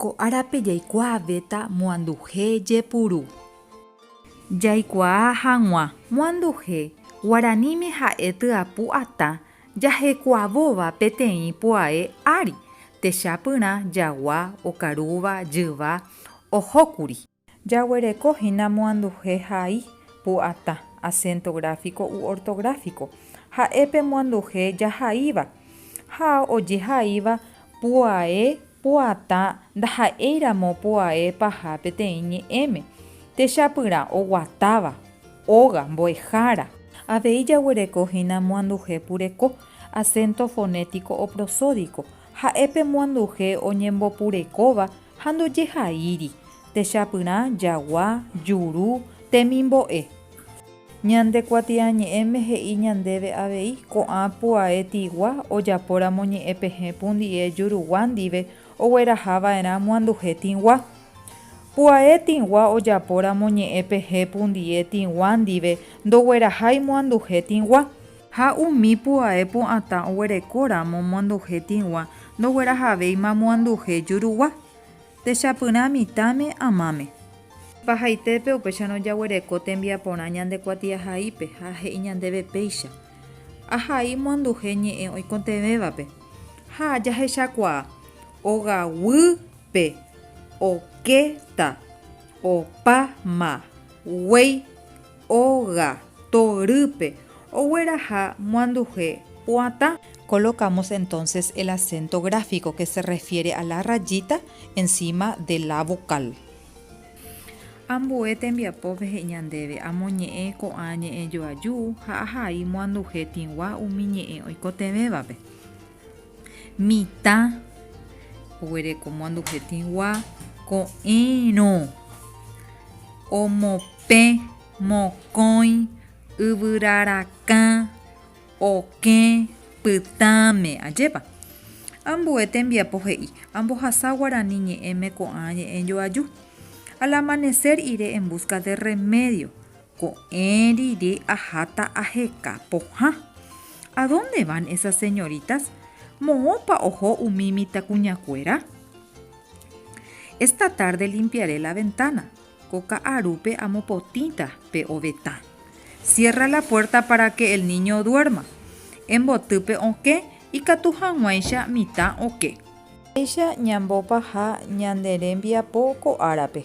Ko árape jaikuaavéta moanduhe jepuru. Jaikuaa hag̃ua moanduhe guaraníme ha'e tyapu atã jahekuavóva peteĩ puae ári, techapyrã jagua, okarúva, jyva, ohókuri. Jaguereko hína moanduhe hai, pu'ata, asénto gráfiko u ortográfiko, ha'e pe moanduhe jahaíva. Ha ojehaíva pu'ae, pu'ata ndaha'éiramo pu'ae paha peteĩ ñe'ẽme. Techapyrã, oguatáva, óga, mbo'ehára. Avei jaguereko hína moanduhe pureko, asénto fonétiko o prosódiko, Ha'e pe moanduhe oñembopurekóva ha ndojehaíri, techapyrã, jagua, juru, temimbo'e. Ñande kuatiañe'ẽme he'i ñandéve avei, ko'ã puae tigua ojapóramo ñe'ẽ pehẽ pundi'e jurugua ndive ogueraha va'erã moanduhe tigua. Puae tigua ojapóramo ñe'ẽ pehẽ pundi'e tigua ndive ndoguerahái moanduhe tigua. Ha umi pu'ae pu'atã oguereko ramo moanduhe tĩgua ndoguerahavéima moanduhe jurugua. Techapyrã mitãme amáme. Pahaitépe upéicharõ jaguereko tembiaporã ñande kuatiahaípe ha he'i ñandéve péicha, Ahai moanduhe ñe'ẽ oikotevẽvape. Ha jahechakuaa, ogaguýpe, okéta, opa ma, guéi, Óga, torýpe, ogueraha moanduhe pu'atã. Colocamos entonces el acento gráfico que se refiere a la rayita encima de la vocal. Ambue tembiapópe he'i ñandéve amoñe'ẽ ko'ã ñe'ẽjoaju ha ahai moanduhe tĩgua umi ñe'ẽ oikotevẽvape. Mitã oguereko moanduhetĩgua ko'ẽrõ. Omopẽ, mokõi, yvyra rakã, okẽ, pytãme. Ajépa? Ambue tembiapo he'i, Ambohasa guarani ñe'ẽme ko'ã ñe'ẽ joaju. Al amanecer iré en busca de remedio. Ko'ẽ rire aháta aheka pohã. A dónde van esas señoritas? Moõpa oho umi mitãkuñakuéra? Esta tárde limpiaré la ventána. Ko ka'arúpe amopotĩta pe ovetã. Siérra la puérta pára ke el níño duérma. Emboty pe okẽ ikatu hag̃uáicha mitã oke. Péicha ñambopaha ñande rembiapo ko árape.